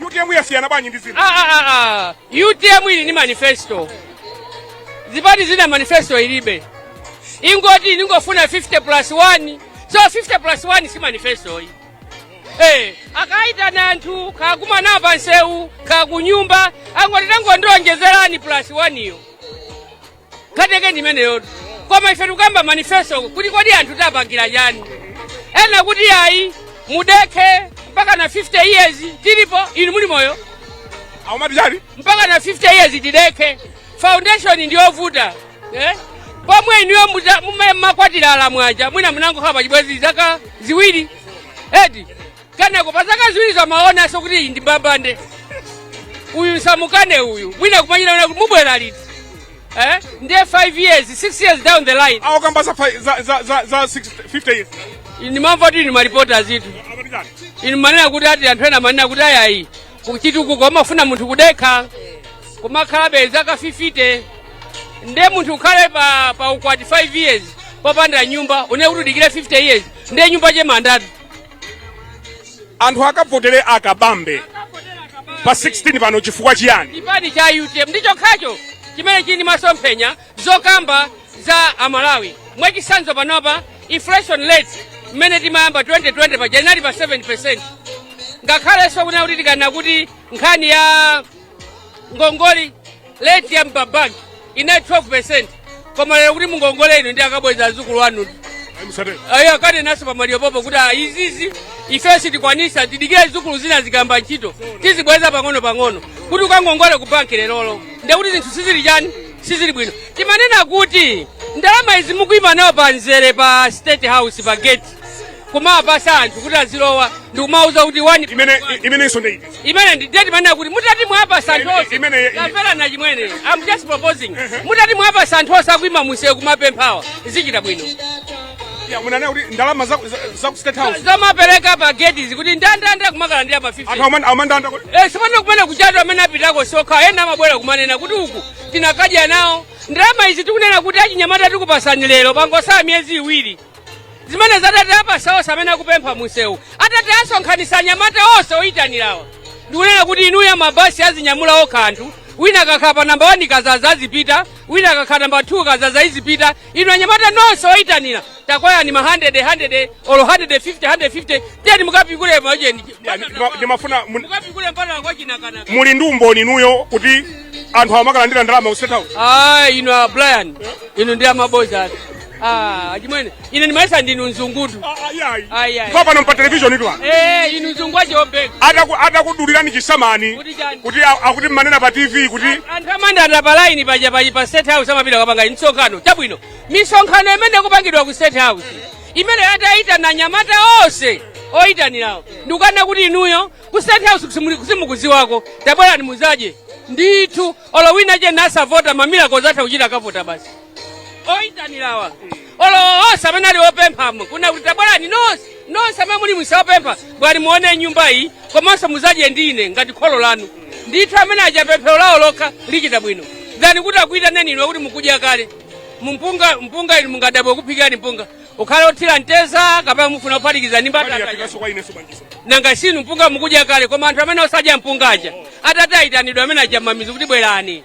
utm yasiyana bwanji ndi zina Ah, ah, ah, ah. utm ili ni manifesto zipani zina manifesto ilibe ingoti ningofuna 50 plus 1 so 50 plus 1 si manifesto iyi Eh, akaitana anthu kakumana nawo pansewu kakunyumba angoti tangondionjezerani plus 1 iyo nkhani yake ndi imeneyotu koma ife tikukamba manifesto kuti kodi anthu tiwapangira chani ena kuti ayi mudekhe mpaka na 50 years tilipo inu muli moyo aumati chani mpaka na 50 years tidekhe foundation ndiyovuta eh? pomwe inuyo muza- mume- makwatira alamwaja mwina munangokhala pachibwezi zaka ziwiri eti Kenako pa zaka ziwirizo amaonanso kuti iyi ndi mbambande, uyu musamukane, uyu mwina kumachita kuti mubwera liti eh? ndiye 5 years 6 years down the line awa akukamba za fi- za- za- za- za 60 50 years ndimamva kuti inu maripota azitu Amati chani? inu manena kuti ati anthu ena manena kuti ayayi kuchitukuko amafuna munthu kudekha kumakhala zaka 50 nde munthu ukhale pa, pa ukwati 5 years popanda nyumba une kuti udikire 50 years nde nyumba ya che mandatu anthu akavotere akabambe pa 16 pano chifukwa chiyani chipani cha utm ndi chokhacho chimene chili ndi masomphenya zokamba za amalawi mwachisanzo panopa inflation rate mmene timayamba 2020 paja inali pa 7 percent ngakhalenso kunena kuti tikanena kuti nkhani ya ngongole rate ya m'mabanki inali 12 koma lero kuti mungongole inu ndi akabweza azukulu anu ayo akanenanso pamaliro pompo kuti ah, izizi ifeyo sitikwanisa tidikire zidzukulu zina zikayamba ntchito tizibweza pang'ono pang'ono kuti ukangongole ku banki lerolo ndekuti zinthu sizili chani sizili bwino timanena kuti ndalama izi mukuima nazo pa nzere pa state house pa gate kumawapasa anthu kuti azilowa ndikumawuza kuti wani imene imenenso ndi imene ndi date manena kuti mutati mwawapasa anthu onse Imene- kapera na chimwene i'm just proposing mutati mwawapasa anthu onse akuima munsewu kumapemphawa zichita bwino Ya, munanena kuti ndalama za za- za ku state house zomapereka pa gate kuti ndandanda kumakalandira pa 50 anthu amene amandanda kuti Eh, sipano kumene kuchatu amene apitako sokha ena amabwera kumanena kuti uku tinakadya nawo ndalama izi tikunena kuti achinyamata tikupasani lero pangosala miyezi iwiri zimenezi atati awapasa onse amene akupempha munsewu atati asonkhanitsa anyamata onse oyitanirawa ndikunena kuti inuyo mabasi azinyamula okha anthu wina akakhala pa namba 1 kazaza azipita wina akakhala namba 2 kazaza izipita inu anyamata nonse oyitanira takwayani ma 100 100 olo 150 150 tiyeni mukapikule macheni ndimafuna mun- mukapikule mbatata kwa Chinakanaka muli ndi umboni inuyo kuti anthu amakalandira ndalama ku state house ah inu a brian inu ndi amaboza eti Ah, achimwene ine ndimayesa ndinu mzungutu Ayi, ayi. papano pa televishoni tu apa. Eh, inu mzungu wache obeka Ataku- atakudulirani chisamani Kuti chani? kuti a- akuti mmanena pa tv kuti anthu amandanda pa laini paja paji pa state house amapita kukapanga msonkhano chabwino misonkhano imene ikupangidwa ku state house imene atayitana anyamata onse oyitanirawo ndikunena kuti inuyo ku state house kusimuli- kusimukuziwako tabwerani muzadye ndithu olo wina je nasavota mamira kozatha kuchita akavota basi oyitanirawa olo onse amene ali opemphamo kunena kuti tabwerani nonse nonse amene muli mwisa opempha bwerani muone nyumba iyi komanso muzadye ndi ine ngati kholo lanu ndithu amene aja pemphero lawo lokha lichita bwino ngati kuti akuyitaneni inu kuti mukudya kale mu- mpunga mpunga inu mungadabwe kuphikirani mpunga ukhale othira mtedza kapena mufuna kuphatikiza ndi mbatata Yafikaso kwa ineso bangiso. nanga sinu mpunga mukudya kale koma anthu amene osadya mpunga aja atati ayitanidwa amene aja mamizi kuti bwerani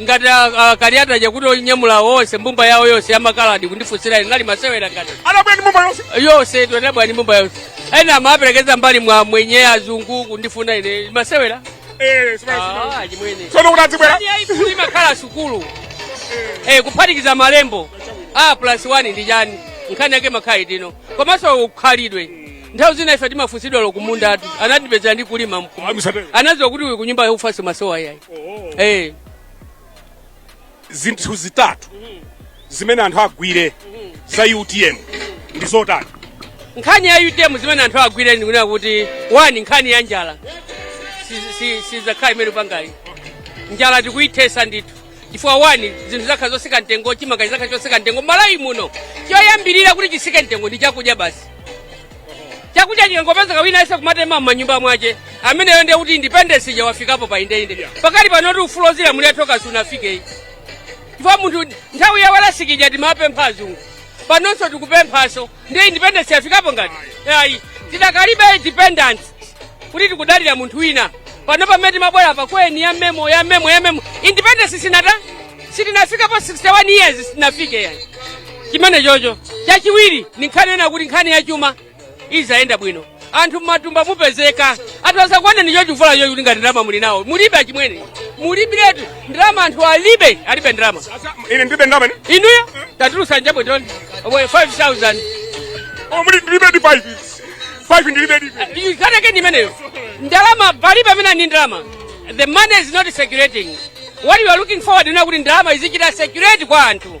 ngati aKaliati chakuti onyamula onse mbumba yawo yonse yamakaladi kundifunsira ine nali masewera ngati anabwera mbumba yonse yonse ito anabwera ndi mbumba yonse ena amaperekeza mbali mwa amwenye azungu kundifuna ine masewera eh, ah, chimwene tsono kuti adzibwera imakhala sukulu eh, kuphatikiza malembo a ah, plus 1 ndi chani nkhani yake makhalidwe komanso ukhalidwe nthawi zina ife timafunsidwa lo kumunda anthu anatipezera ndi kulima mkumunda. Ah, musatero. anadziwa kuti uyu kunyumba yaufanso masowa yayi Eh, zinthu zitatu zimene anthu agwire za utm ndi zotani nkhani ya utm zimene anthu agwire ndikunena kuti wani nkhani ya njala si- si- sizakhala imene ipanga ayi njala tikuyithesa ndithu chifukwa wani zinthu zakhala zosika mtengo chimanga chizakhala chosika mtengo malawi muno choyambirira kuti chisike mtengo ndi chakudya basi chakudya chikangopezeka wina ayese kumatema m'manyumba mwache ameneyo ndiye kuti independence ija wafikapo pa inde inde pakati pano kuti ufulu ozilamulira tokha sunafike ayi chifukwa munthu nthawi ya walasikija timapempha azungu panonso tikupemphanso ndiye independence yafikapo ngati ayi tidakalibe independence kuti tikudalira munthu wina pano pamene timabwera pa kweni ya memo ya memo ya memo independence sinata sitinafikapo 61 years sitinafike ayi chimene chocho chachiwiri ni nkhani yonena kuti nkhani ya chuma izayenda bwino anthu mmatumba mupezeka anthu azakuoneni chochivula chokuti ngati ndalama muli nazo mulibe achimwene mulibiretu ndalama anthu alibe alibe ndalama ine ndilibe ndalama ndi inuyo tatulusa njabwe ndoni omwe 5000 oh mulibe di 5 5 ndilibe di nkhani yake ndi imeneyo ndalama palibe amene ndi ndalama the money is not circulating what you are looking forward ndi kuti ndalama izichita circulate kwa anthu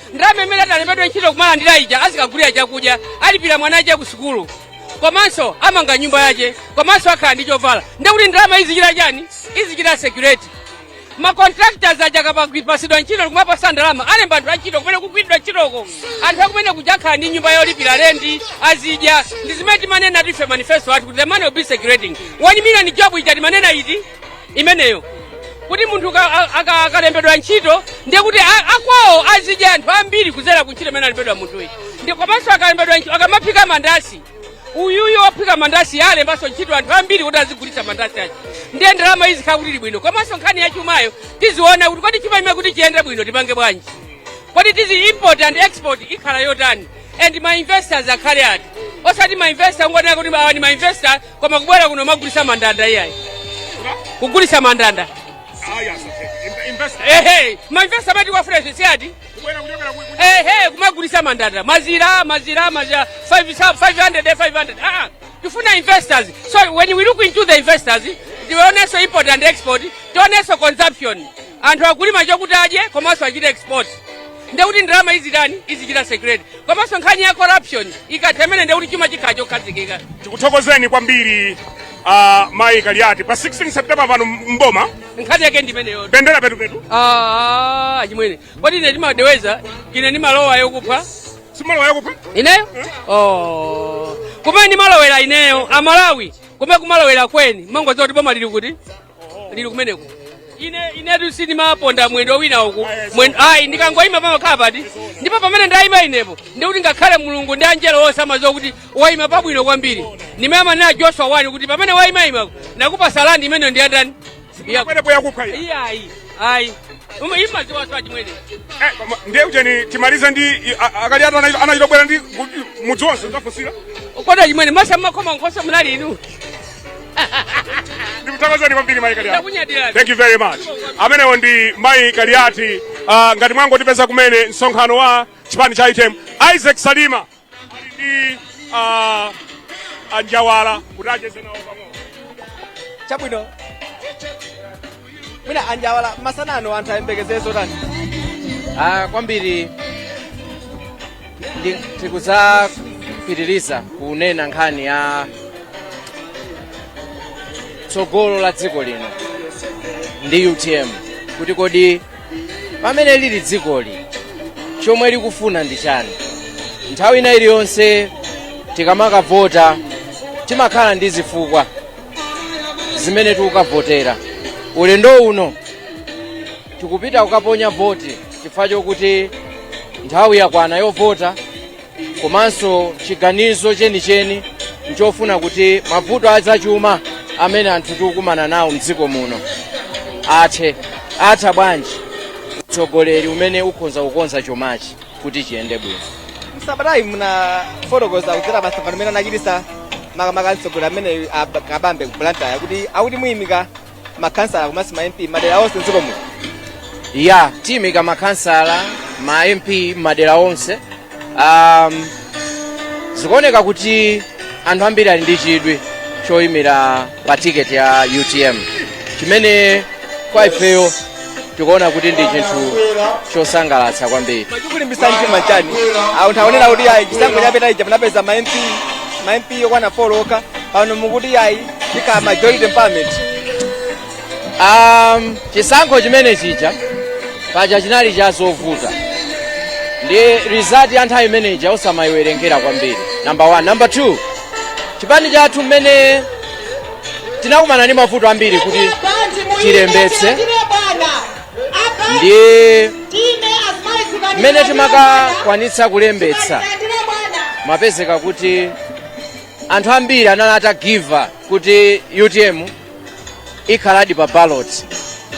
ndalama imene atalembedwa ntchito kumalandira ija azikagulira chakudya alipira mwana ache ku sukulu komanso amanga nyumba yache komanso akhala ndi chovala ndekuti ndalama izichita chani izichita circulate macontractors aja akapatsidwa ntchito kumapatsa ndalama alemba anthu antchito kumene kukugwiridwa ntchitoko anthu akumene kuja akhala ndi nyumba yolipira lendi azidya ndi zimene timanena ife manifesto athu kuti the money will be circulating 1 million job ija timanena iti imeneyo kuti munthu ka- a- aka- akalembedwa ntchito ndiye kuti a- akwawo azidya anthu ambiri kudzera ku ntchito imene alembedwa munthuyi ndiye komanso akalembedwa ntchito akamaphika mandasi uyuyu ophika mandasi alembanso ntchito anthu ambiri kuti azigulitsa mandasi aja ndiye ndalama izikhala kuti ili bwino komanso nkhani ya chumayo tiziona kuti kodi chuma imene kuti chiyende bwino tipange bwanji kodi tizi import and export ikhala yotani and ma investors akhale ati osati ma investor ongonena kuti awa ni ma investor koma kubwera kuno kumagulitsa mandanda iyayi kugulitsa mandanda ehe mainvesta amati wafresh si ati ehe kumagulitsa mandanda mazira mazira mazira 500 500 ah tifuna investors so when we look into the investors tionenso import and export tionenso consumption anthu akulima chokuti adye komanso achite export nde kuti ndalama izitani izichita circulate komanso nkhani ya corruption ikatha imene nde kuti chuma chikhala chokhazikika tikuthokozeni kwambiri uh, mayi kaliati pa 16 september pano mboma nkhani yake ndi imeneyo bendera petupetu Ah, achimwene kodi ine ndimadoweza ine ndimalowa yokupha simalowa yokupha ineyo oh. kumene ndimalowera ineyo amalawi kumene kumalowera akweni amangodziwa kuti boma lili kuti lili kumeneko ine inetu sindimaponda mwendo wina uku mwen- ayi ndikangoyima pamakhala phata ndipo pamene ndayima inepo ndikuti ngakhale mulungu ndi angelo onse amadziwa kuti wayima pabwino kwambiri ndimayamba nena joshua one kuti pamene wayimayima ndakupatsa landi imeneyo ndiyandani pamenepo yakupha iya. iyayi ayi mumadziwanso achimwene Eh, koma ndiye kuti timalize ndi i- a- akaliati anachita- anachita kubwera ndi kuti mudzi wonse ndafunsira kodi achimwene masa mmakoma nkhosa munali inu ndikuthokozeni kwambiri mayi kaliati Ndakunyadira. thank you very much amenewo ndi mayi kaliati uh, ngati mwangotipeza kumene msonkhano wa chipani cha utm isaac salima ali ndi uh, anjawala kuti acheze nawo pang'ono chabwino mwina anjawala masana ano anthu ayembekezere zotani Ah, kwambiri ndi- tikudzapitiriza kunena nkhani ya tsogolo la dziko lino ndi utm kuti kodi pamene lili dzikoli chomwe likufuna ndi chani nthawi ina iliyonse tikamakavota timakhala ndi zifukwa zimene tikukavotera ulendo uno tikupita kukaponya voti chifukwa chokuti nthawi yakwana yovota komanso chiganizo chenicheni nchofuna kuti mavuto azachuma amene anthu tikukumana nawo mdziko muno athe atha bwanji utsogoleri umene ukhoza kukonza chumachi kuti chiyende bwino msabatayi munafotokoza kudzera pa msonkhano umene anachitisa makamaka mtsogoleri ameneyi Kabambe ku blantyre kuti akuti muyimika makhansala komanso ma mp madera onse mdziko muno ya tiyimika makhansala ma mp madera onse um, zikuoneka kuti anthu ambiri ali ndi chidwi choyimira pa tiketi ya utm chimene kwa ifeyo tikuona kuti ndi chinthu chosangalatsa kwambiri chikulimbisa mtima chani anthu akunena kuti ayi chisankho chapita ija munapeza ma mp ma mp okwana 4 okha pano mukuti ayi ikhala majority empowerment Um, chisankho chimene chija paja chinali chovuta ndi result ya nthawi imene ija osamayiwerengera kwambiri number one number two chipani chathu mmene tinakumana ndi mavuto ambiri kuti chilembetse nde mmene timakakwanitsa kulembetsa zimapezeka kuti anthu ambiri anali atagiva up kuti utm siikhaladi pa ballot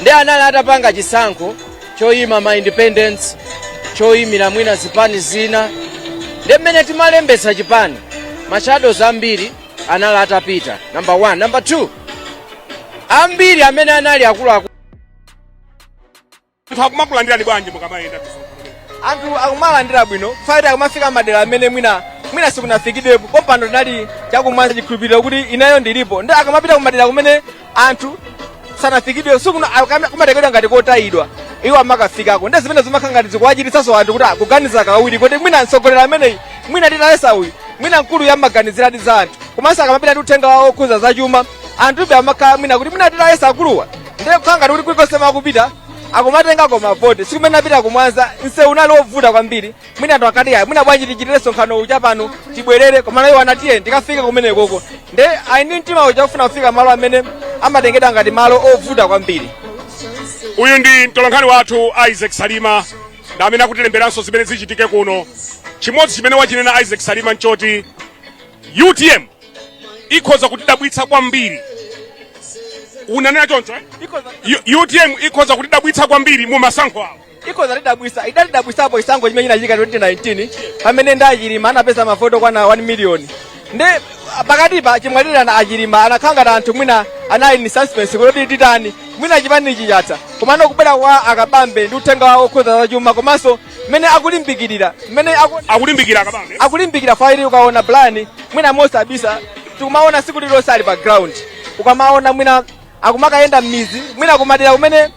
nde anali atapanga chisankho choyima ma independent choyimira mwina zipani zina nde mmene timalembetsa chipani mashadows ambiri anali atapita number 1 number 2 ambiri amene anali akuluakulu anthu akumakulandirani bwanji mukamayenda anthu akumalandira bwino chifukwa akumafika madera amene mwina mwina sikunafikidwepo pompano tinali cha ku Mwanza chikhulupiriro kuti mwa iwo chilipo nde akamapita kumadera kumene anthu sanafikidwe kumatengedwa ngati kotayidwa iwo amakafikako ndi zimene zimakhala ngati zikuwachititsanso anthu kuti aganize kawiri kuti mwina mtsogoleri ameneyi mwina titayesa uyu mwina mkuluyu amaganiziradi za anthu komanso akamapita ndi uthenga wawo okhuza za chuma anthu amakhala ngati kuti mwina titayesa akuluwa ndiye kukhala ngati kuti kulikonse akupita akumatengako mavoti tsiku limene apita ku Mwanza msewu unali wovuta kwambiri mwina anthu akati ayi mwina bwanji tichitire msonkhano uja pano tibwerere koma iwo anati ayi ndikafike kumenekoko nde ali ndi mtima uja wofuna kufika malo amene amatengedwa ngati malo ovuta kwambiri uyu ndi mtolankhani wathu isaac salima ndi amene akutilemberanso zimene zichitike kuno chimodzi chimene wachinena isaac salima nchoti utm ikhoza kutidabwitsa kwambiri unanena choncho eh? Ikhoza- U- utm ikhoza kutidabwitsa kwambiri mu masankho awo ikhoza tidabwisa idatidabwisapo chisankho chimene chinachitika 2019 pamene ndi achilima anapeza mavoti okwana 1 miliyoni ndi ah, pakati pa chimwalirireni achilima anakhala ngati anthu mwina anali ni suspense kuti titani mwina chipanichi chatha komano kubwera kwa akabambe ndi uthenga wawo okhuza zachuma komanso mmene akulimbikirira mmene aku- akulimbikira akabambe akulimbikira fayiti ukaona plan mwina mosabisa tikumaona tsiku lililonse ali pa ground ukamaona mwina akumakayenda mmidzi mwina kumadera kumene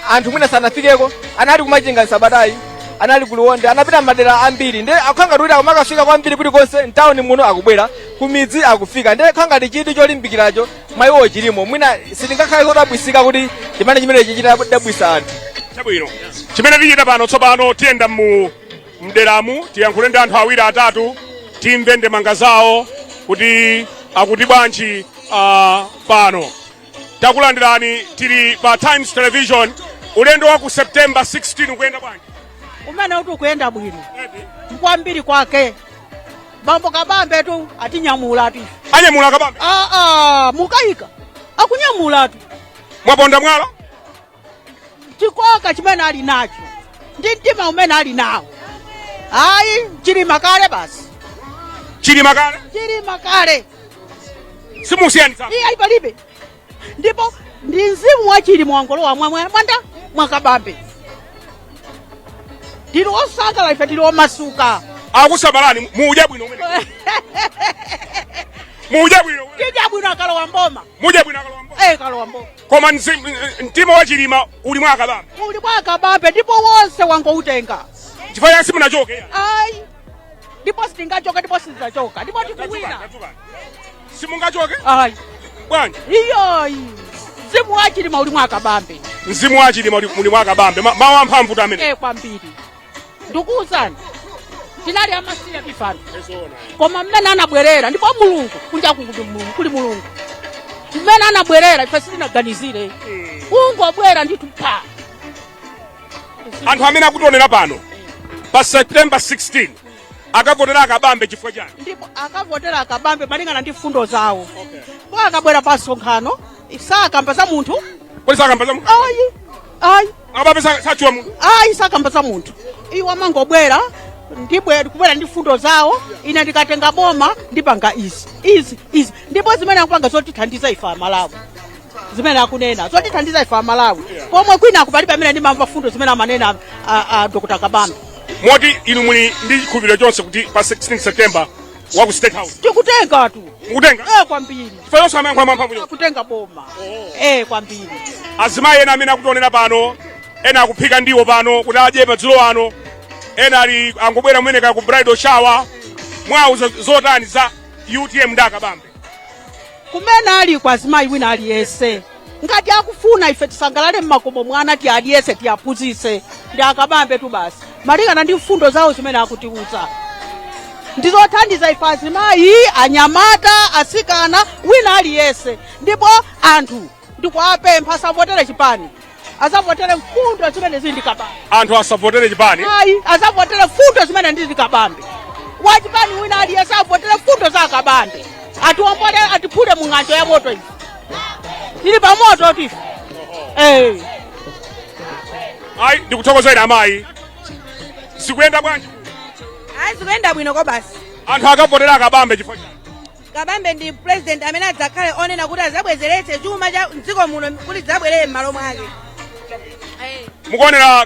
anthu mwina sanafikeko anali kumachinga msabatayi anali kuliwonde anapita mmadera ambiri nde akhangati kuti akumakafika kwambiri kuti konse mtawuni muno akubwera kumidzi akufika nde khangati kuti cholimbikiracho mwa iwo chilimo mwina sitingakhale odabwisika kuti chimene chimene chichita dabwisa anthu chabwino chimene tichite pano tsopano tiyenda mu m'deramu tiyankhule ndi anthu awiri atatu timve ndemanga zawo kuti akuti bwanji ah, pano takulandirani tili pa times television ulendo wa ku september 16 ukuyenda bwanji umene uti ukuyenda bwino kwambiri kwake bambo kabambe tu atinyamula tu anyamula kabambe ah, ah, mukayika akunyamula tu mwaponda mwala chikoka chimene ali nacho ndi mtima umene ali nawo ayi chilima kale basi chilima kale chilima kale simusiyanitsa iye ayi palibe ndipo ndi mzimu wa chilima wangolowa mwa mwa- mwanda mwakabambe tili osangalala ife tili omasuka akusamalani mudya bwino umene mudya bwino umene. tidya bwino akalowa mboma mudya bwino akalowa mboma eh akalowa mboma koma mzimu- eh, mtima wa chilima uli mwa akabambe uli mwa akabambe ndipo wonse wangoutenga chifukwa chake simungachoke ayi ndipo sitingachoke ndipo sitizachoka ndipo tikuwina Tadzukani, tadzukani. simungachoke ayi bwanji iyoyi mzimu wa chilima uli mwa akabambe mzimu wa chilima uli- muli mwa kabambe Ma- mawu amphamvu tu amenewa e kwambiri ndikuwuzani tinali amasiya ifeyo koma mmene anabwerera ndipo mulungu kunja kuli mulungu mmene anabwerera ife sitinaganizire kungobwera ndithu pa anthu amene akutionera pano pa september 16 akavotera akabambe chifukwa chani ndipo akavotera akabambe malingana ndi mfundo zawo po akabwera pa msonkhano sakamba za munthu kodi sakamba za munthu ayi ayi akabambe sa- satchula munthu ayi sakamba za munthu iwo amangobwera ndi kubwera ndi mfundo zawo ine ndikatenga boma ndipanga izi izi izi ndipo zimene akupanga zotithandiza ife amalawi zimene akunena zotithandiza ife amalawi pomwe kwina uku palibe amene ndimamva fundo zimene amanena a, a dr kabambe moti inu muli ndi chikhulupiriro chonse kuti pa 16 september wa ku state house tikutenga tu mukutenga eh kwambiri chifukwa onse mayankho amphamvu onse kutenga boma eh kwambiri azimayi ena amene akutionera pano ena akuphika ndiwo pano kuti adye madzulo ano ena ali angobwera kumene ku bridal shower muwauza zotani za utm ndi akabambe kumene ali kwa azimayi wina aliyese ngati akufuna ife tisangalale mmakomo mwana tialiyese tiaphunzitse ndi akabambe tu basi malingana ndi mfundo zawo zimene akutiuza ndizothandiza ife azimayi anyamata asikana wina aliyese ndipo anthu ndikuwapempha asavotere chipani azavotere mfundo zimene zili ndi kabambe anthu asavotere chipani ayi azavotere mfundo zimene ndi za kabambe wachipani wina aliyese avotere mfundo za akabambe atiwombole atiphule mu ng'anjo ya moto izi tili pa moto ife eh. ayi ndikuthokozeni amayi zikuyenda bwanji ayi zikuyenda bwino kobasi anthu akavotera akabambe chifukwa chani? Kabambe ndi president amene adzakhale onena kuti azabwezeretse chuma cha mdziko muno kuti chizabwerere m'malo mwake. Mukuonera